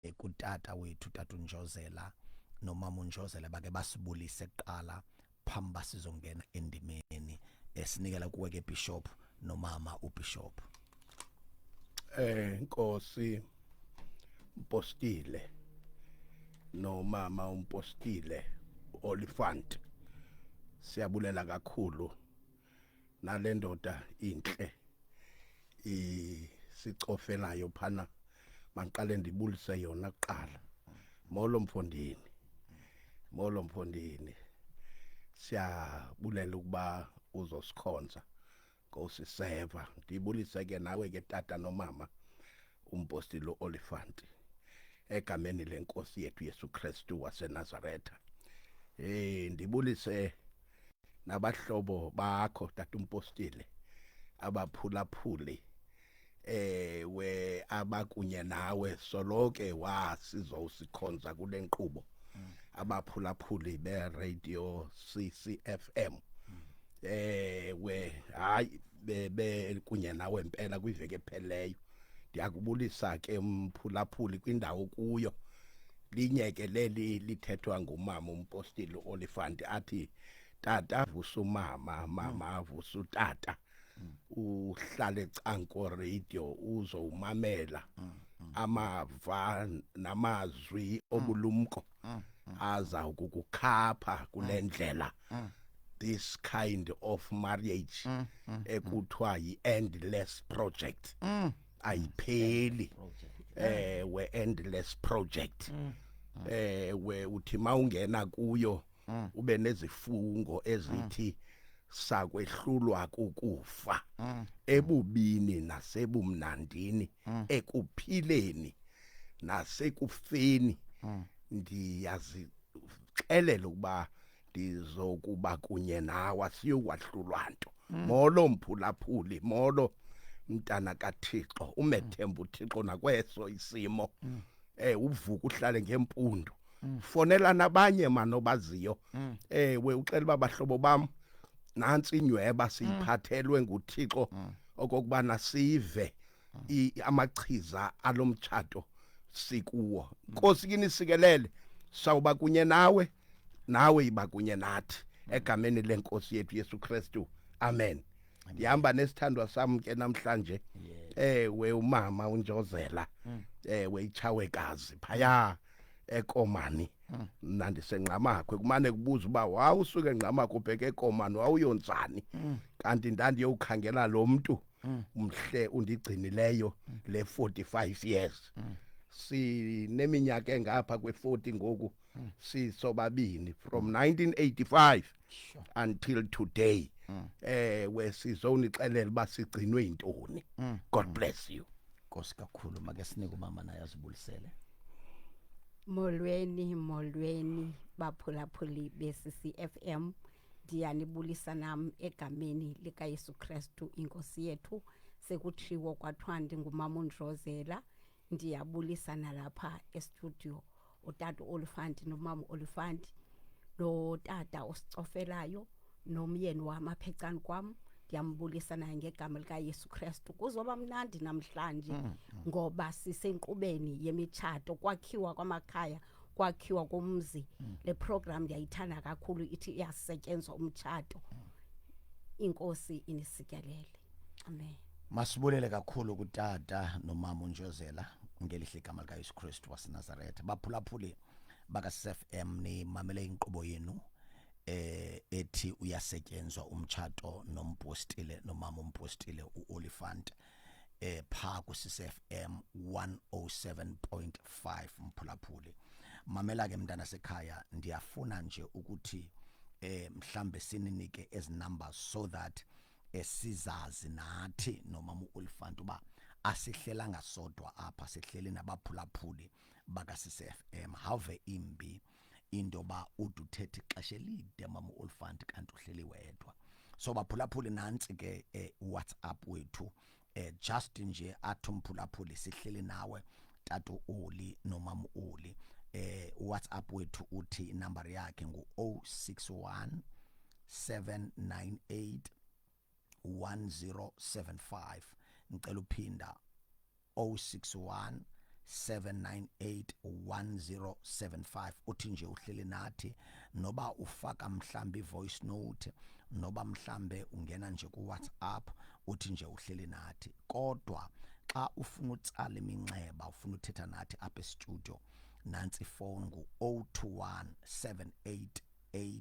eh, kutata wethu tata unjozela nomama unjozela bake basibulise kuqala phambi uba sizongena endimeni esinikela eh, kuwe ke bishop nomama ubishop eh nkosi mpostile nomama umpostile olifant siyabulela kakhulu nale ndoda intle isicofe nayo phana mandiqale ndibulise yona kuqala molo mfondini molo mfondini siyabulela ukuba uzosikhonza nkosi seva ndibulise ke nawe ke tata nomama umpostile uolifanti egameni lenkosi yethu yesu kristu wasenazaretha um ndibulise nabahlobo bakho tatumpostile abaphulaphuli ewe eh, abakunye nawe soloke wasizowusikhonza kule nkqubo mm. abaphulaphuli beradio ccfm mm. ewe eh, hayi bebe kunye nawe impela kwiveki epheleyo ndiyakubulisa ke mphulaphuli kwindawo kuyo linyeke leli lithethwa ngumama umpostile uOlifant athi tata avusa umama mama mm. avusa utata mm. uhlale canko radio uzowumamela mm, amava namazwi obulumko aza ukukukhapha kulendlela this kind of marriage ekuthiwa yi endless project mm. ayipheli ewe endless project mm. ewe uthi mawungena kuyo mm. ube nezifungo ezithi mm. sakwehlulwa kukufa mm. ebubini nasebumnandini mm. ekuphileni nasekufeni mm. ndiyazixelela ukuba ndizokuba kunye nawe asiyowahlulwa nto mm. molo mphulaphuli molo mntana kathixo umethemba uthixo nakweso isimo mm. eh uvuka uhlale ngempundu mm. fonela nabanye mano baziyo mm. eh we uxela babahlobo bam nansi inyweba siyiphathelwe nguthixo okokubana sive amachiza alomtshato sikuwo Nkosi kini sikelele sawuba kunye nawe nawe yiba kunye nathi egameni lenkosi yethu Yesu Kristu amen ndihamba nesithandwa sam ke namhlanje ewe umama unjozela mm. ewe itshawekazi phaya ekomani mm. mna ndisengqamakhwe kumane kubuza uba wawusuke ngqamakhwe ubheke ekomani wawuyonzani mm. kanti ndandiyowukhangela lo mntu mm. umhle undigcinileyo mm. le 45 years mm. sineminyaka engapha kwe-40 ngoku mm. sisobabini from 1985 sure. until today mm. eh we sizonixelela uba sigcinwe yintoni mm. god mm. bless you nkosi kakhulu make sinike umama naye azibulisele molweni molweni baphulaphuli be-ccfm ndiyanibulisa nam egameni likayesu kristu inkosi yethu sekutshiwo kwathiwa ndingumama undrozela ndiyabulisa nalapha estudio utata uolifanti nomama uolifanti notata osicofelayo nomyeni wam apha ecani kwam ndiyambulisa naye ngegama likayesu kristu kuzoba mnandi namhlanje mm, mm. ngoba sisenkqubeni yemitshato kwakhiwa kwamakhaya mm. kwakhiwa komzi mm. le program ndiyayithanda kakhulu ithi iyasetyenzwa umtshato mm. inkosi inisityalele amen masibulele kakhulu kutata nomama unjozela ngelihle igama likayesu kristu wasenazaretha baphulaphuli bakasf m nimamele inkqubo yenu eh ethi uyasetyenzwa umtshato nompostile nomama umpostile uolifant eh pha ku CFM 107.5 mphulaphuli mamela ke mntana sekhaya ndiyafuna nje ukuthi eh mhlambe sininike ezi numbers so that esizazi nathi nomama uOlifant uba asihlelanga sodwa apha sihleli nabaphulaphuli baka CFM have imbi into yoba ude uthethe ixesha elide mama uolifant kanti uhleli wedwa so baphulaphuli nantsi ke eh, whatsapp wethu eh, just nje athi umphulaphuli sihleli nawe tata oli nomama oli eh whatsapp wethu uthi inumber yakhe ngu 061 798 1075 ngicela uphinda 061 7981075 uthi nje uhleli nathi noba ufaka mhlambi voice note noba mhlambe ungena nje ku WhatsApp uthi nje uhleli nathi kodwa xa ufuna utsala iminxeba ufuna uthetha nathi apha e-studio nansi ifowuni ngu-021 788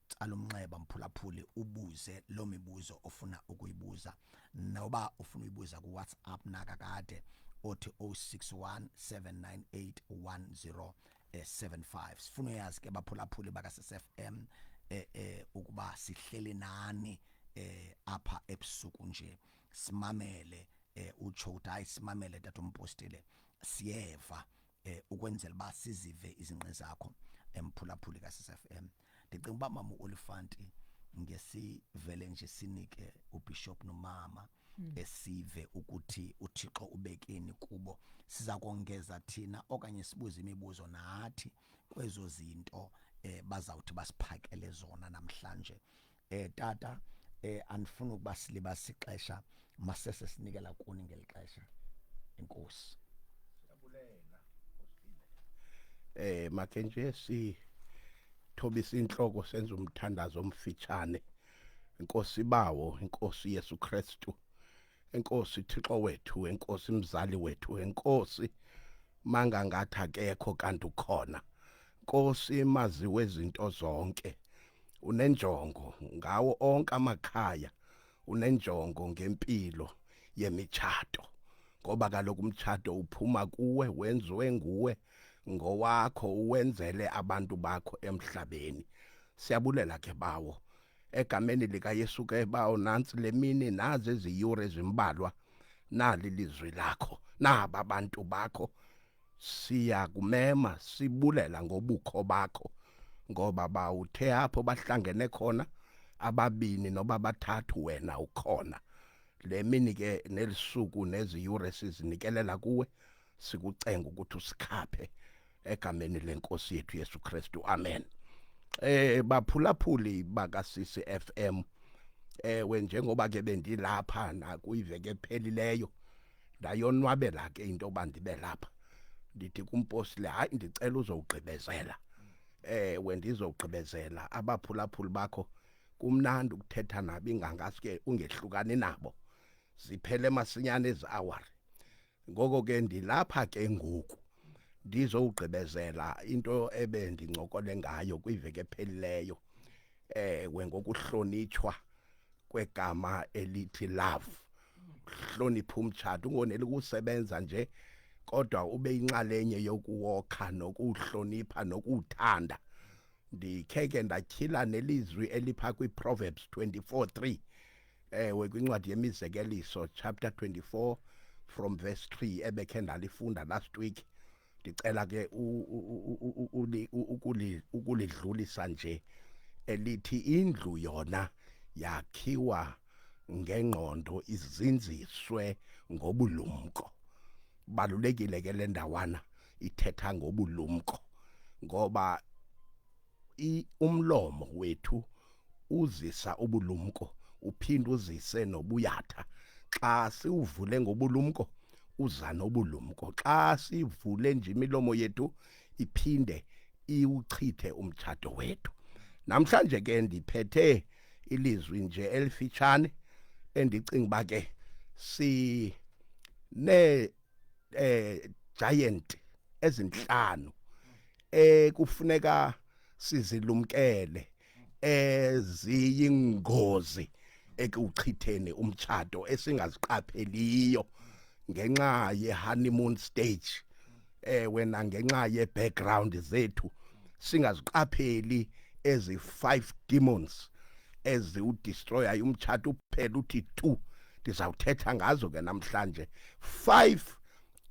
tsala umnxeba mphulaphuli ubuze loo mibuzo ofuna ukuyibuza noba ufuna uyibuza kuwhatsapp nakakade othi 061 798 1075 sifuna uyazi ke baphulaphuli bakasesfm eh, eh, ukuba sihlele nani eh, apha ebusuku nje simamele eh, utsho ukuthi hayi simamele tatompostile siyeva eh, ukwenzela uba sizive izinqe zakho emphulaphuli kasesfm eh, ndicinga uba mama uolifanti ngesivele nje sinike ubishop nomama hmm. esive ukuthi uThixo ubekeni kubo siza kongeza thina okanye sibuze imibuzo nathi kwezo zinto eh bazawuthi basiphakele zona namhlanje eh tata eh andifuni ukuba silibasa ixesha masese sinikela kuni ngeli xesha inkosi siyabulela nkosile eh make nje si thobisa inhloko senza umthandazo omfitshane inkosi bawo inkosi Yesu Kristu enkosi Thixo wethu enkosi mzali wethu enkosi manga ngathi akekho kanti ukhona Nkosi maziwe izinto zonke unenjongo ngawo onke amakhaya unenjongo ngempilo yemitshato ngoba kaloku umtshato uphuma kuwe wenziwe nguwe ngowakho uwenzele abantu bakho emhlabeni siyabulela ke bawo egameni likaYesu ke bawo nansi lemini nazi iziyure ezimbalwa nali lizwi lakho naba bantu bakho siyakumema sibulela ngobukho bakho ngoba bawuthe apho bahlangene khona ababini noba bathathu wena ukhona le mini ke nelisuku neziyure sizinikelela kuwe sikucenga ukuthi usikhaphe egameni lenkosi yethu Yesu Kristu amen eh baphulaphuli bakasisi FM ewe njengoba ke bendilapha nakuyiveke ephelileyo ndayonwabela ke into yoba ndibe lapha ndithi kumpostile hayi ndicela uzowugqibezela ewe ndizowugqibezela abaphulaphuli bakho kumnandi ukuthetha nabo ingangasuke ungehlukani nabo ziphele masinyane ezi hour ngoko ke ndilapha ke ngoku ndizowugqibezela into ebe ndincokole ngayo kwiveke ephelileyo ewe ngokuhlonitshwa kwegama elithi love hlonipha umtshato ungoneli kusebenza nje kodwa ube inxalenye yokuwokha nokuhlonipha nokuthanda ndikhe ke ndatyhila nelizwi elipha kwiProverbs 24:3 ewe kwincwadi yemizekeliso chapter 24 from verse 3 ebekhe ndalifunda last week ndicela ke ukulidlulisa nje elithi indlu yona yakhiwa ngengqondo izinziswe ngobulumko balulekile ke le ndawana ithetha ngobulumko ngoba I umlomo wethu uzisa ubulumko uphinde uzise nobuyatha xa siwuvule ngobulumko uza nobulumko xa sivule nje imilomo yethu iphinde iwuchithe umtshato wethu namhlanje ke ndiphethe ilizwi nje elifitshane endicinga uba ke si ne eh giant ezinhlanu ekufuneka sizilumkele eziyingozi ekuchitheni umtshato esingaziqapheliyo ngenxa ye-honeymoon stage ewe eh, nangenxa ye-background zethu singaziqapheli ezi five demons eziwudestroyayo umtshato uphela uthi two ndizawuthetha ngazo ke namhlanje five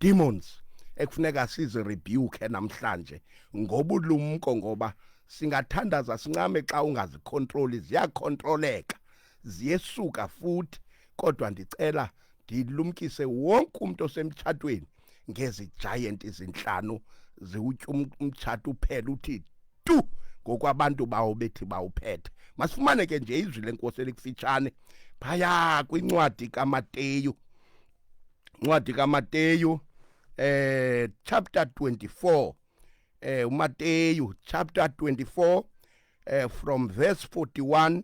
demons ekufuneka sizi rebuke namhlanje ngobulumko ngoba singathandaza sincame xa ungazikontroli ziyakontroleka ziyesuka futhi kodwa ndicela ndilumkise wonke umuntu osemtshatweni ngezi giant izinhlanu ziwutya um-, umtshato uphela uthi tu ngokwabantu bawo bethi bawuphethe masifumane ke nje izwi lenkosi elikufitshane phaya kwincwadi kamateyu incwadi kaMateyu eh chapter 24 eh uMateyu chapter 24 eh from verse 41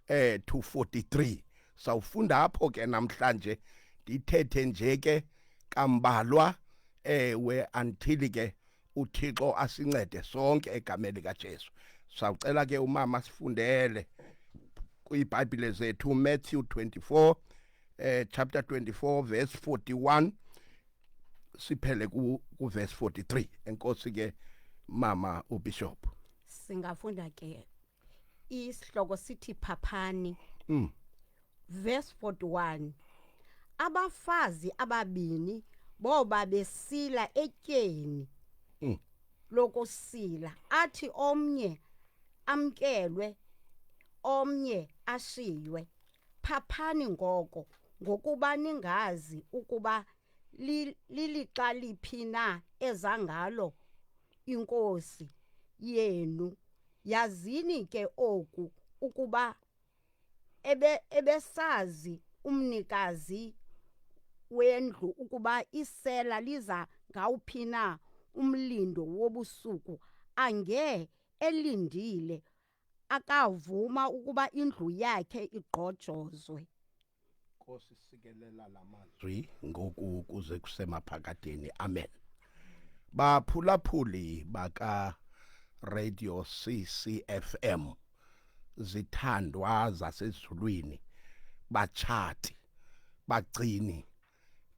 eh to 43 sawufunda apho ke namhlanje ndithethe nje ke kambalwa eh we until ke uthixo asincede sonke egameni likajesu sawucela ke umama sifundele kwiibhayibhile zethu matthew 24 eh, chapter 24 verse 41 siphele ku, ku verse 43 enkosi ke mama ubishop singafunda ke isihloko sithi phaphani Mm. verse 41 abafazi ababini boba besila etyeni Mm. lokusila athi omnye amkelwe omnye ashiywe phaphani ngoko ngokuba ningazi ukuba li- lilixa liphi na ezangalo inkosi yenu yazini ke oku ukuba ebe ebesazi umnikazi wendlu ukuba isela liza ngawuphi na umlindo wobusuku ange elindile akavuma ukuba indlu yakhe igqojozwe Nkosi sikelela lamazwi ngoku kuze kusemaphakadeni amen baphulaphuli baka radio CCFM zithandwa zasezulwini bachati bagcini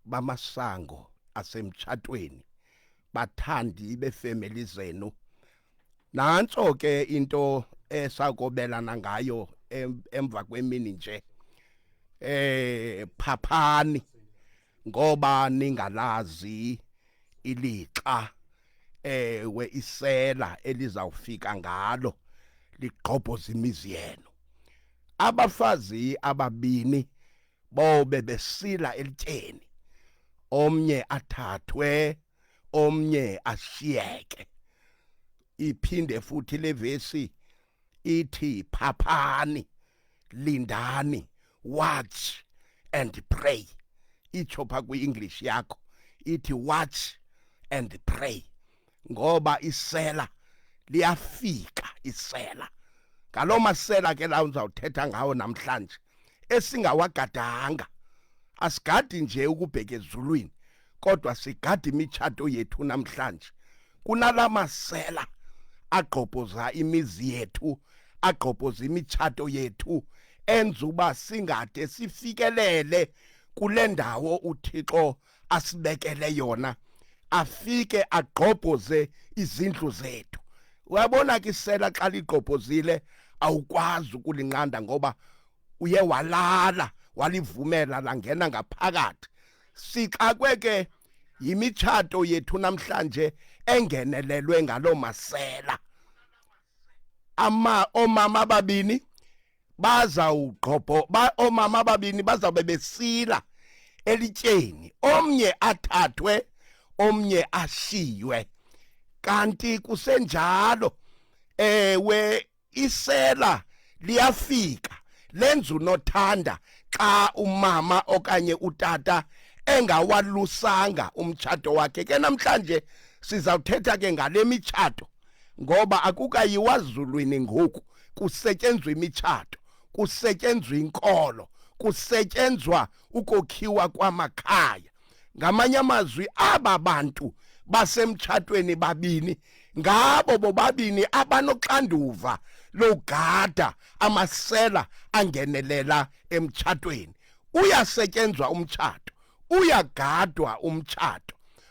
bamasango asemtshatweni bathandi befamily zenu nantso ke into esakobelana ngayo emva kwemini nje eh phaphani ngoba ningalazi ilixa ewe isela elizawufika ngalo ligqobhoza imizi yenu abafazi ababini bobe besila elityeni omnye athathwe omnye ashiyeke iphinde futhi levesi ithi phaphani lindani watch and pray itsho pha kwi-english yakho ithi watch and pray ngoba isela liyafika isela ngaloo masela ke lawo ndizawuthetha ngawo namhlanje esingawagadanga asigadi nje ukubheka ezulwini kodwa sigada imitshato yethu namhlanje kunala masela agqobhoza imizi yethu agqobhoza imitshato yethu enza uba singade sifikelele kule ndawo uthixo asibekele yona afike agqobhoze izindlu zethu uyabona ke isela xa ligqobhozile awukwazi ukulinqanda ngoba uye walala walivumela langena ngaphakathi sixakwe ke yimitshato yethu namhlanje engenelelwe ngaloo masela ama omama ababini bazawugqobho ba, oomama ababini bazawube besila elityeni omnye athathwe omnye ashiywe kanti kusenjalo ewe isela liyafika lenza unothanda xa umama okanye utata engawalusanga umtshato wakhe ke namhlanje sizawuthetha ke ngale mitshato ngoba akukayiwa zulwini ngoku kusetyenzwa imitshato kusetyenzwa inkolo kusetyenzwa ukokhiwa kwamakhaya ngamanye amazwi aba bantu basemtshatweni babini ngabo bobabini abanoxanduva logada amasela angenelela emtshatweni uyasetyenzwa umtshato uyagadwa umtshato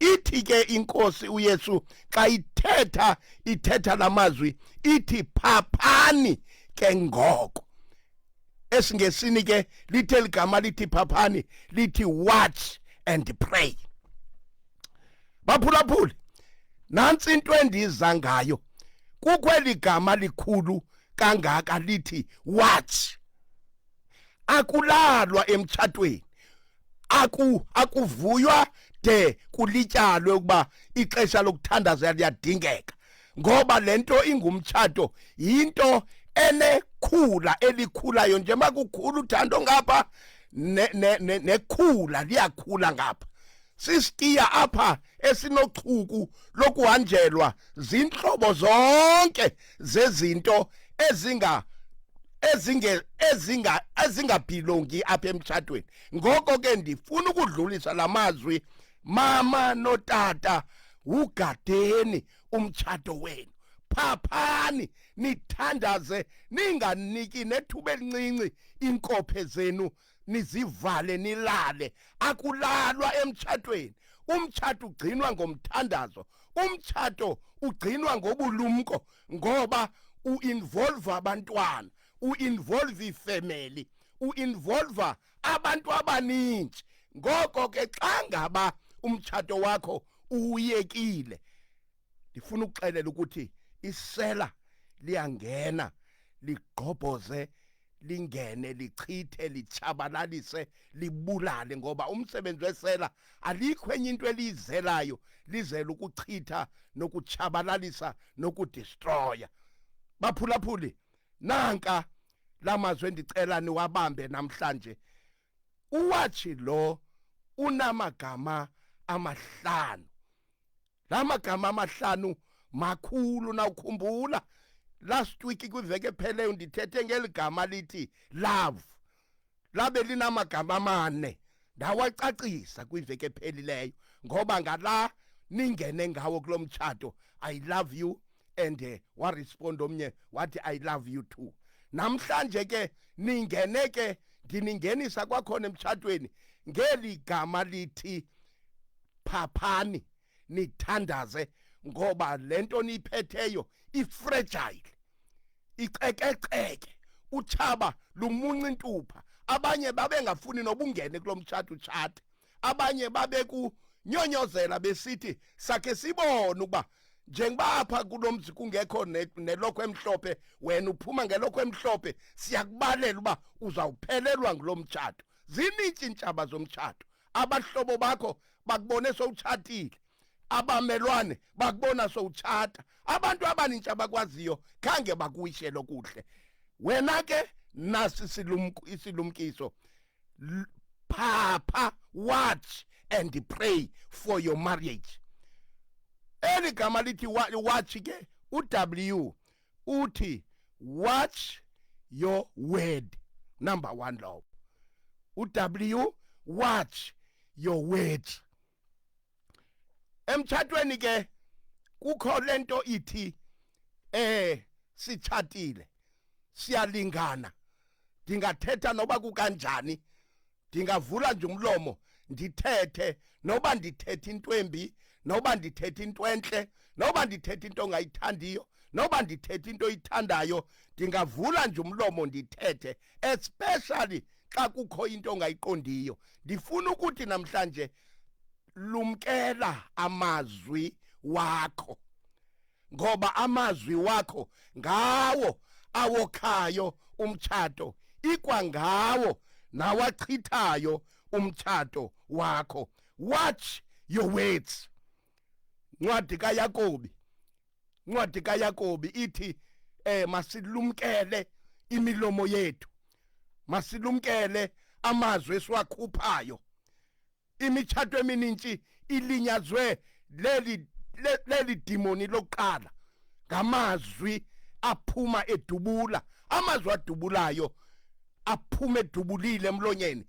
ithi ke inkosi uyesu xa ithetha ithetha la mazwi ithi phaphani ke ngoko esingesini ke lithe ligama lithi phaphani lithi watch and pray baphulaphuli nansi into endiza ngayo kukweli gama likhulu kangaka lithi watch akulalwa emtshatweni aku akuvuywa de kulityalwe ukuba ixesha lokuthandaza liyadingeka ngoba lento ingumtshato yinto enekhula elikhulayo nje makukhulu uthando ngapha nekhula liyakhula ngapha sisitiya apha esinochuku lokuhanjelwa zintlobo zonke zezinto ezinga ezinge ezinga ezingabhilongi apha emtshatweni ngoko ke ndifuna ukudlulisa la mazwi mama notata wugadeni umtshato wenu phaphani nithandaze ninganiki nethuba elincinci inkophe zenu nizivale nilale akulalwa emtshatweni umtshato ugcinwa ngomthandazo umtshato ugcinwa ngobulumko ngoba uinvolve abantwana uinvolve ifamily uinvolve abantu abaningi ngoko ke xa ngaba umtshato wakho uwuyekile ndifuna ukuxelela ukuthi isela liyangena ligqobhoze lingene lichithe lichabalalise libulale ngoba umsebenzi wesela alikho enye into eliyizelayo lizela ukuchitha nokuchabalalisa nokudestroya baphulaphuli nanka lamazwi endicela niwabambe namhlanje uwathi lo unamagama amahlanu la magama amahlanu makhulu nawukhumbula last week kwiveke epheleyo ndithethe ngeli gama lithi love labe linamagama amane ndawacacisa kwiveke ephelileyo ngoba ngala ningene ngawo kulo mtshato i love you and uh, waresponda omnye wathi i love you too namhlanje ke ningene ke ndiningenisa kwakhona emtshatweni ngeli gama lithi phaphani nithandaze ngoba le nto niyiphetheyo ifrejayile icekeceke utshaba lumunca intupha abanye babengafuni nobungene kulo mtshato utshate abanye babekunyonyozela besithi sakhe sibone ukuba njengoba apha kulo mzi kungekho nelokho emhlophe wena uphuma ngelokho emhlophe siyakubalela uba uzawuphelelwa ngulo mtshato zinintsintshaba zomtshato abahlobo bakho bakubone sowutshatile abamelwane bakubona sowutshata abantu abanintsha abakwaziyo khange bakuyishele okuhle wena ke nasi silumku isilumkiso phapha watch and pray for your marriage eli gama lithi watch ke uw uthi watch your word number 1 lowo uW watch your words emtshatweni ke kukho lento ithi eh sitshatile siyalingana ndingathetha noba kukanjani ndingavula nje umlomo ndithethe noba ndithethe into embi noba ndithethe into entle noba ndithethe into ongayithandiyo noba ndithethe into oyithandayo ndingavula nje umlomo ndithethe especially xa kukho into ongayiqondiyo ndifuna ukuthi namhlanje lumkela amazwi wakho ngoba amazwi wakho ngawo awokhayo umtshato ikwangawo nawachithayo umtshato wakho watch your words ncwadi kayakobi ncwadi kayakobi ithi eh masilumkele imilomo yethu masilumkele amazwi esiwakhuphayo imitshato emininzi ilinyazwe leli leli dimoni lokuqala ngamazwi aphuma edubula amazwi adubulayo aphuma edubulile emlonyeni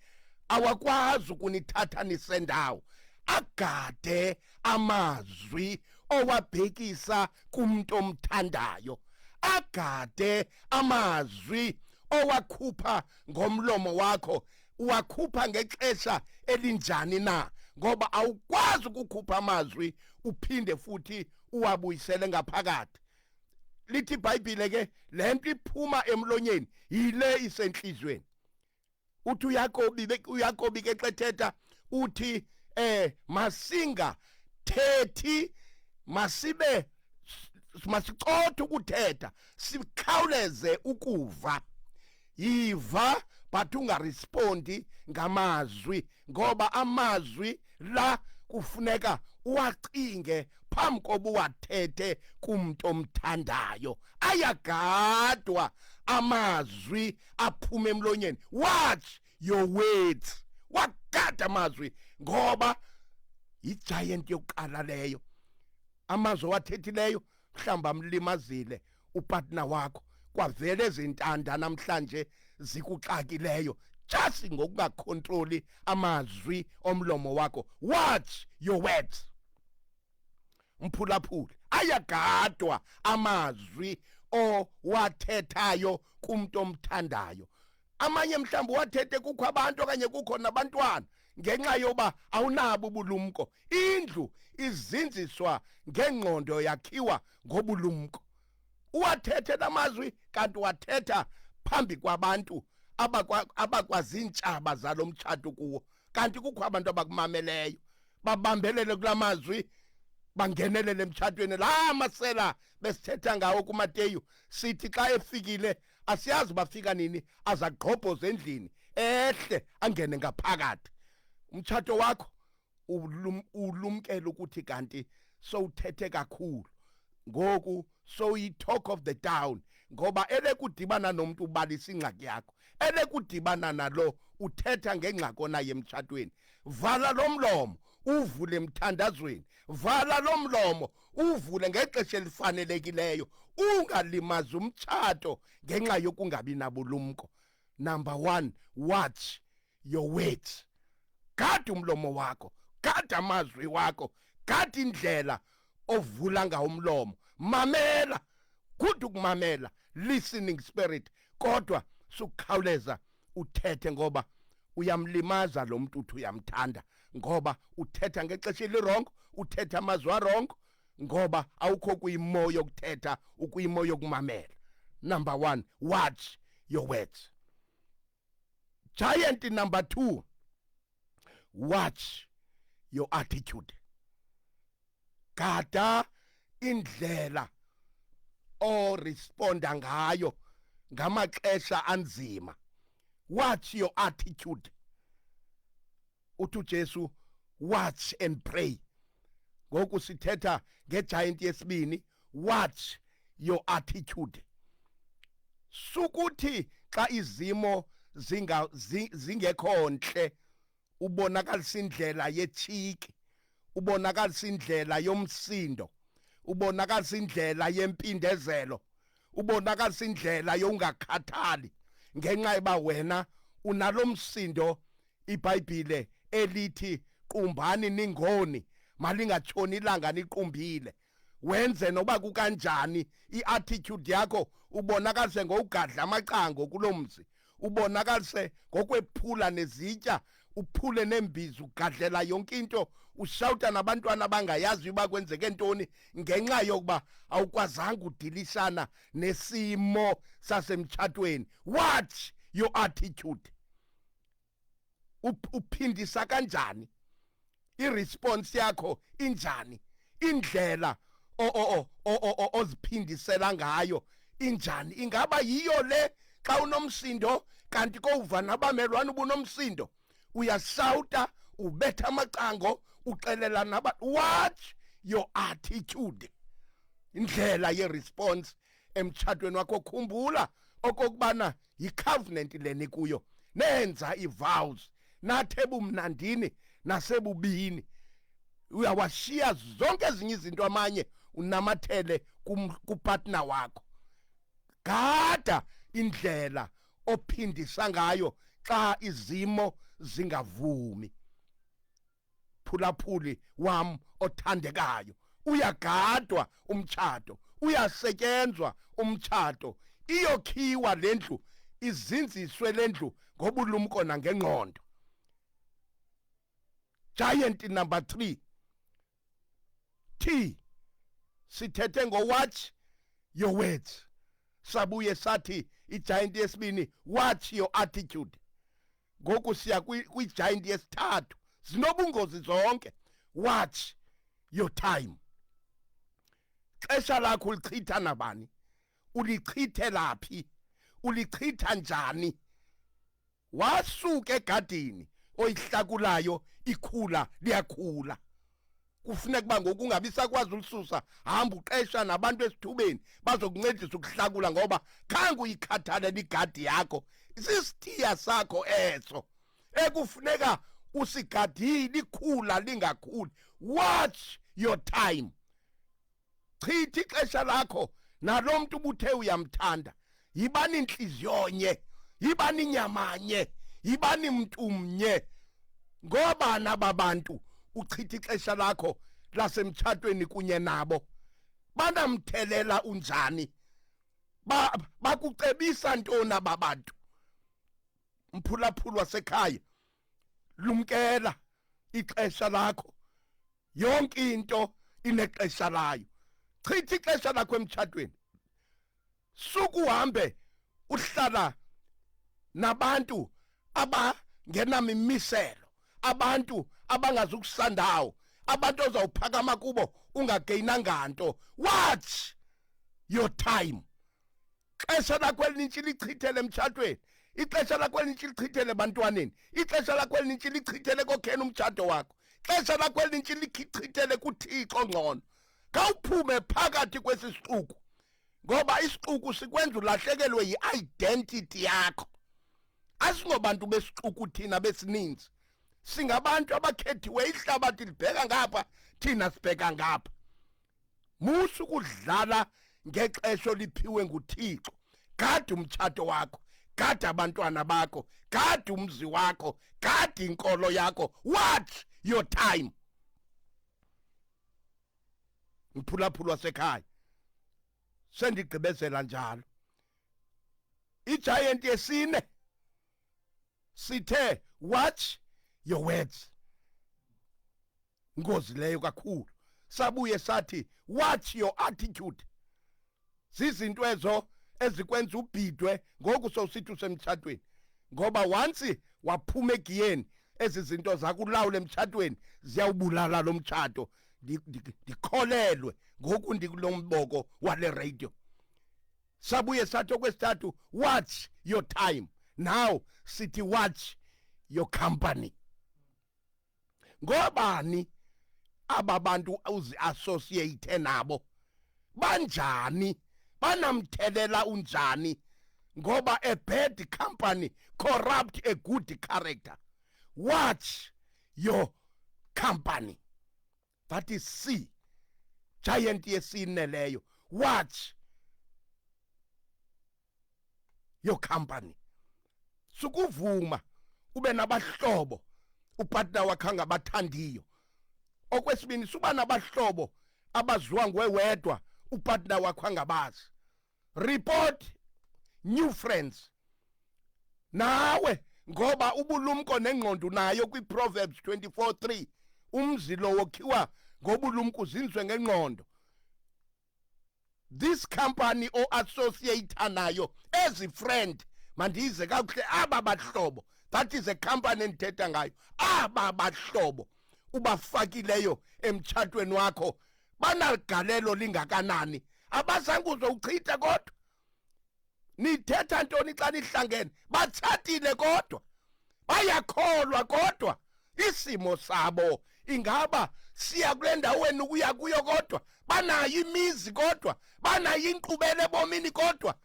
awakwazi ukunithatha nisendawo agade amazwi owabhekisa kumuntu omthandayo agade amazwi owakhupha ngomlomo wakho uwakhupha ngexesha elinjani na ngoba awukwazi ukukhupha amazwi uphinde futhi uwabuyisele ngaphakathi lithi ibhayibhile ke le nto iphuma emlonyeni yile isenhlizweni uthi uyakobi uyakobi ke xethetha uthi eh masinga thethi masibe masicothe ukuthetha sikhawuleze ukuva yiva but ungarespondi ngamazwi ngoba amazwi la kufuneka uwacinge phambi koba uwathethe kumntu omthandayo ayagadwa amazwi aphuma emlonyeni watch your words wagada amazwi ngoba yigiant yokuqala leyo amazwi owathethileyo mhlawumbi amlimazile upartner wakho kwavele ezintanda namhlanje zikuxakileyo just ngokungakhontroli amazwi omlomo wakho watch your words mphulaphula ayagadwa amazwi owathethayo kumuntu omthandayo amanye mhlawumbi wathethe kukho abantu okanye kukho nabantwana ngenxa yoba awunabo ubulumko indlu izinziswa ngengqondo yakhiwa ngobulumko uwathethe namazwi kanti wathetha phambi kwabantu abakwaziintshaba zalo mtshato kuwo kanti kukho abantu abakumameleyo babambelele kula mazwi bangenelele emtshatweni la masela besithetha ngawo kumateyu sithi xa efikile asiyazi bafika nini azagqobhoza endlini ehle angene ngaphakathi umtshato wakho ulum, ulumkele ukuthi kanti sowuthethe kakhulu ngoku soyi-talk of the town ngoba elekudibana nomntu ubalisa ingxaki yakho elekudibana nalo uthetha ngengxaki onaye emtshatweni vala lo mlomo uvule emthandazweni vala lo mlomo uvule ngexesha elifanelekileyo ungalimazi umtshato ngenxa yokungabi nabulumko number 1 watch your words gada umlomo wakho gada amazwi wakho gada indlela ovula ngawo umlomo mamela good ukumamela listening spirit kodwa sukukhawuleza uthethe ngoba uyamlimaza lo mntu uthi uyamthanda ngoba uthetha ngexesha elirongo uthetha amazwi arongo ngoba awukho kuyimo yokuthetha ukuyimo yokumamela number 1 watch your words giant number 2 watch your attitude gada indlela o responda ngayo ngamaxesha anzima watch your attitude uthi uJesu watch and pray ngoku sithetha ngegiant yesibini watch your attitude sukuthi xa izimo zinga zingekho ntle ubonakalisa indlela yechiki ubonakalisa indlela yomsindo ubonakalisa indlela yempindezelo ubonakalisa indlela yongakhathali ngenxa eba wena unalomsindo iBhayibhile elithi qumbani ningoni malingatshoni ilanga niqumbile wenze noba kukanjani iattitude yakho ubonakalise ngowugadla amacango kuloo mzi ubonakalise ngokwephula nezitya uphule neembizi ugadlela yonke into ushawuta nabantwana abangayazi uba kwenzeke ntoni ngenxa yokuba awukwazanga udilisana nesimo sasemtshatweni watch your attitude uphindisa kanjani iresponse yakho injani indlela oziphindisela ngayo injani ingaba yiyo le xa unomsindo kanti kowuva nabamelwane ubunomsindo uyasawuta ubetha amacango uxelela naba watch your attitude indlela yeresponse emtshatweni wakho khumbula okokubana yicovenant le nikuyo nenza ivows nathe bumnandini nasebubini uyawashiya zonke ezinye izinto amanye unamathele kupartner wakho gada indlela ophindisa ngayo xa izimo zingavumi mphulaphuli wam othandekayo uyagadwa umtshato uyasetyenzwa umtshato iyokhiwa le ndlu izinziswe le ndlu ngobulumko nangengqondo giant number 3 t sithethe ngowatch your words sabuye sathi igiant yesibini watch your attitude ngoku siya kwigiant yesithathu zinobungozi zonke watch your time xesha lakho ulichitha nabani ulichithela phi ulichitha njani wasuka egadini oyihlakulayo ikhula liyakhula kufuneka uba ngoku ungabi sakwazi ulisusa hamba uqesha nabantu esithubeni bazokuncedisa ukuhlakula ngoba khange uyikhathalele igadi yakho isisithiya sakho eso ekufuneka usigadile ikhula lingakhuli watch your time chithi ixesha lakho nalo mntu ubuthe uyamthanda yibani intliziyo nye yibani nyamanye yibani mntu mnye ngoba naba bantu uchitha ixesha lakho lasemtshatweni kunye nabo banamthelela unjani ba bakucebisa ntoni aba bantu mphulaphulu wasekhaya lumkela ixesha lakho yonke into inexesha layo chitha ixesha lakho emtshatweni sukuhambe uhlala nabantu abangenamimiselo abantu abangazukusandawo abantu ozawuphakama kubo ungageyinanga nto watch your time ixesha lakho elinintshi lichithele emtshatweni ixesha lakho elinintshi lichithele ebantwaneni ixesha lakho elinintshi lichithele kokhena umtshato wakho ixesha lakho elinintshi lichithele kuthixo ngcono khawuphume phakathi kwesi sixuku ngoba isixuku sikwenza ulahlekelwe yi-identity yakho asingobantu besixuku thina besininzi singabantu abakhethiwe ihlabathi libheka ngapha thina sibheka ngapha musa ukudlala ngexesha oliphiwe nguthixo gada umtshato wakho gada abantwana bakho gada umzi wakho gada inkolo yakho watch your time mphulaphula wasekhaya sendigqibezela njalo igiant yesine sithe watch your words Ingozi leyo kakhulu. Sabuye sathi watch your attitude. Sizinto ezo ezikwenza ubhidwe ngoku sowusithi usemtshatweni. Ngoba once waphuma egiyeni ezi zinto zakulawula emtshatweni ziyawubulala lo mtshato ndikholelwe ngoku ndikulo mboko wale radio sabuye sathi okwesithathu watch your time now sithi watch your company ngobani aba bantu uziassociate nabo banjani banamthelela unjani ngoba a bad company corrupt a good character watch your company that is c giant yesine leyo watch your company sukuvuma ube nabahlobo upartner wakhe angabathandiyo okwesibini suba nabahlobo abaziwa ngwewedwa upartner wakho angabazi report new friends nawe ngoba ubulumko nengqondo nayo kwiProverbs 24:3 umzi lo wokhiwa ngobulumko uzinzwe ngengqondo this company o associate nayo as a friend mandize kakuhle aba bahlobo that is a company endithetha ngayo aba bahlobo ubafakileyo emtshatweni wakho banaligalelo lingakanani abazange uzowuchitha kodwa nithetha ntoni xa nihlangene batshatile kodwa bayakholwa kodwa isimo sabo ingaba siya kule ndawo wenu kuya kuyo kodwa banayo imizi kodwa banayo inkqubela ebomini kodwa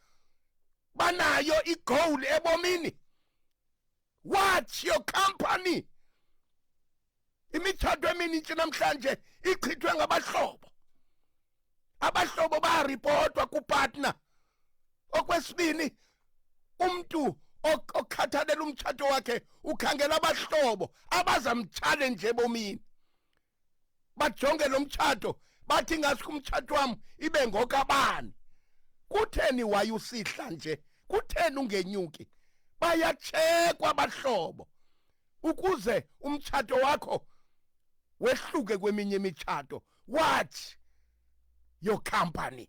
banayo igowuli ebomini watch your company imitshato eminintsi namhlanje ichithwe ngabahlobo abahlobo bayaripotwa kupatna okwesibini umntu okhathalela umtshato wakhe ukhangela abahlobo abazamtshale nje bomini bajonge lo mtshato bathi ngasikho umtshato wam ibe ngokabani kutheni wayusihla nje kutheni ungenyuki bayatshekwa abahlobo ukuze umtshato wakho wehluke kweminye imitshato what your company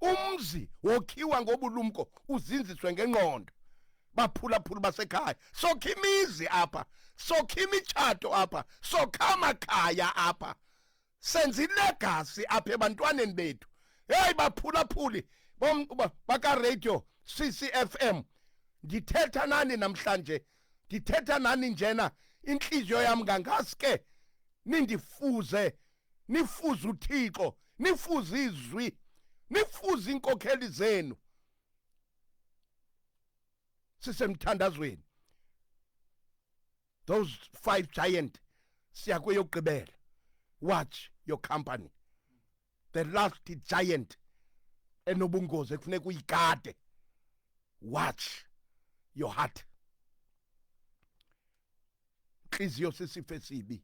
umzi wokhiwa ngobulumko uzinziswe ngengqondo baphulaphula basekhaya sokha imizi apha sokha imitshato apha sokha amakhaya apha senza ilegasi apha ebantwaneni bethu heyi baphulaphuli bakaradio ccfm ndithetha nani namhlanje ndithetha nani njena intliziyo yam ngangaske nindifuze nifuze uthixo nifuze izwi nifuze iinkokheli zenu sisemthandazweni those five giant siya kweyokugqibela watch your company the last giant enobungozi ekufuneka uyigade watch your heart Inhliziyo sisifo esibi.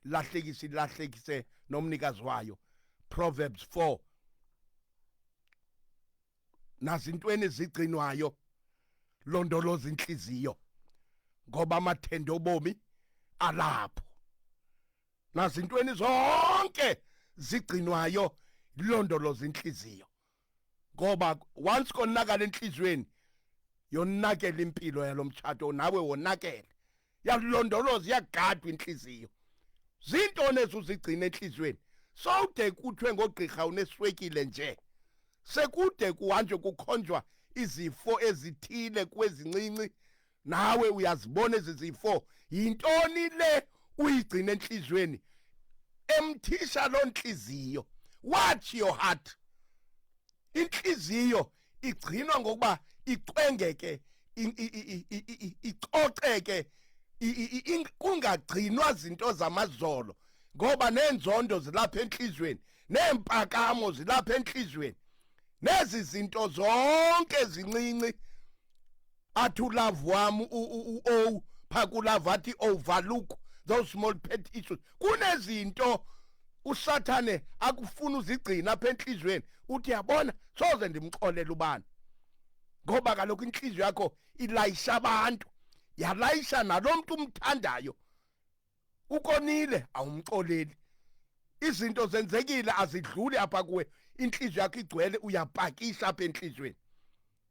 Lahlekisa ilahlekise nomnikazi wayo. Proverbs 4 nazintweni ezigcinwayo londoloza inhliziyo ngoba amathende obomi alapho nazintweni zonke zigcinwayo ilondoloza inhliziyo ngoba once konakala enhliziyweni yonakela impilo yalo mtshato nawe wonakele yakulondoloza iyagadwa inhliziyo zintoni ezuzigcina enhliziyweni sowude kuthiwe ngogqirha uneswekile nje sekude kuhanjwe kukhonjwa izifo ezithile kwezincinci nawe uyazibona ezi zifo yintoni le uyigcina entliziyweni emthisha loo ntliziyo watch your heart intliziyo igcinwa ngokuba icwengeke icoceke kungagcinwa zinto zamazolo ngoba nenzondo zilapha enhlizweni nempakamo zilapha enhlizweni nezi zinto zonke zincinci athi ulove wam u-o phakulove athi overlook oh, those small pet issues kunezinto usathane akufuna uzigcina apha enhliziyweni uthi yabona soze ndimxolela ubani ngoba kaloku inhliziyo yakho ilayisha abantu yalayisha nalo mntu umthandayo ukonile awumxoleli izinto zenzekile azidluli apha kuwe inhliziyo yakho igcwele uyapakisha apha enhliziyweni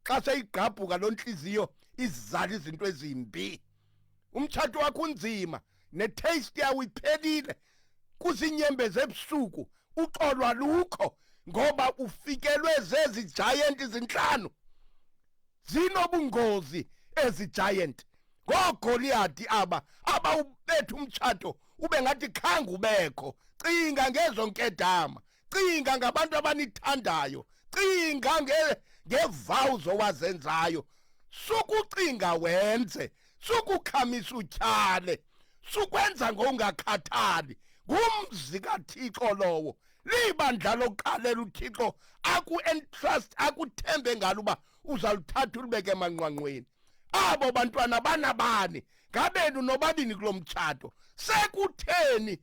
xa seyigqabhuka loo nhliziyo izizala izinto ezimbi umtshato wakho unzima netaste yawo iphelile kuzinyembezi ebusuku uxolwa lukho ngoba ufikelwe zezi giant izinhlanu zinobungozi ezi giant ngoogoliyadi aba abawubetha umtshato ube ngathi khange ubekho cinga ngezo nkedama cinga ngabantu abanithandayo cinga ngevows owazenzayo sukucinga wenze sukukhamisa utyhale sukwenza ngongakhathali ngumzi kathixo lowo libandla lokuqalela uthixo aku-entrust akuthembe ngalo uba uzaluthatha ulibeke emanqwanqweni abo bantwana banabani ngabenu nobabini kulo mtshato sekutheni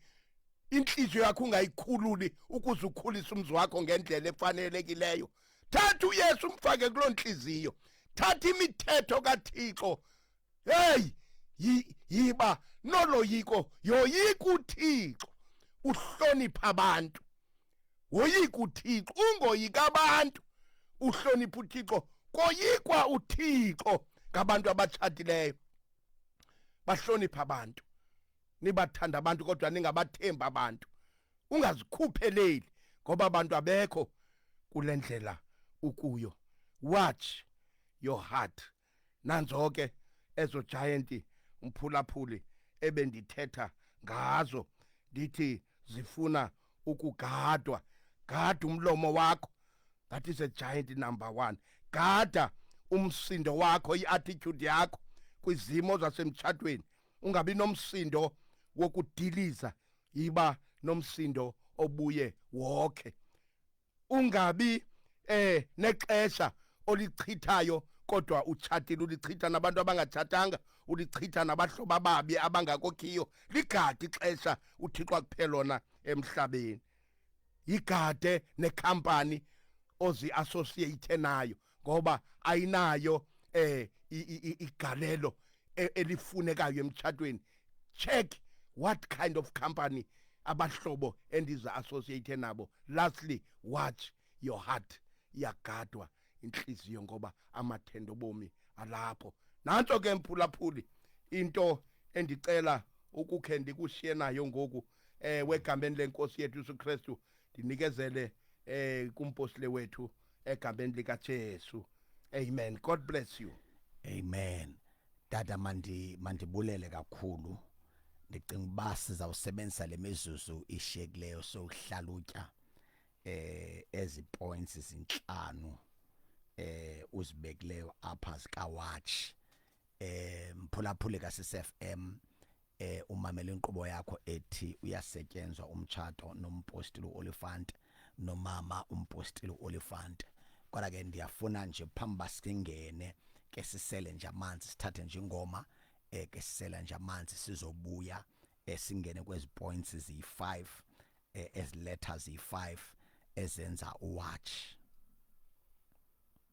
intliziyo yakho ungayikhululi ukuze ukhulise umzi wakho ngendlela efanelekileyo thatha uyesu umfake kuloo ntliziyo thatha imithetho kathixo heyi yiba noloyiko yoyika uthixo uhlonipha abantu woyika uthixo ungoyika abantu uhlonipha uthixo koyikwa uthixo ngabantu abatshatileyo bahlonipha abantu nibathanda abantu kodwa ningabathembi abantu ungazikhupheleli ngoba abantu abekho kule ndlela ukuyo watch your heart nanzo ke ezo giant umphulaphuli ebendithetha ngazo ndithi zifuna ukugadwa gada umlomo wakho that is a giant number 1 gada umsindo wakho iattitude yakho kwizimo zasemtshatweni ungabi nomsindo wokudiliza yiba nomsindo obuye wokhe ungabi eh nexesha olichithayo kodwa utshatile ulichitha nabantu abangatshatanga ulichitha nabahlobo ababi abangakokhiyo ligade ixesha uthixo akuphela lona emhlabeni yigade nekhampani ozi-associate nayo ngoba ayinayo eh igalelo e, elifunekayo emtshatweni check what kind of company abahlobo endiza associate nabo lastly watch your heart iyagadwa inhliziyo ngoba amathendo bomi alapho nanto ke mphulaphuli into endicela ukukhe ndikushiye nayo ngoku eh wegambeni lenkosi yethu uSuKristu ndinikezele eh kumpostile wethu egameni lika Jesu amen god bless you amen dada mandi mandibulele kakhulu ndicinga uba sizawusebenzisa le mizuzu ishiyekileyo sokuhlalutya eh ezi points izinhlanu eh uzibekileyo apha zikawatch eh mphulaphuli kaSFM eh umamela inkqubo yakho ethi uyasetyenzwa umtshato nompostile uolifant nomama umpostile uolifant kodwa ke ndiyafuna nje phambi basingene ke sisele nje amanzi sithathe nje ingoma eh ke sisela nje amanzi sizobuya esingene eh, kwezi points ziyi5 eh, ezi letters ziyi5 ezenza uwatch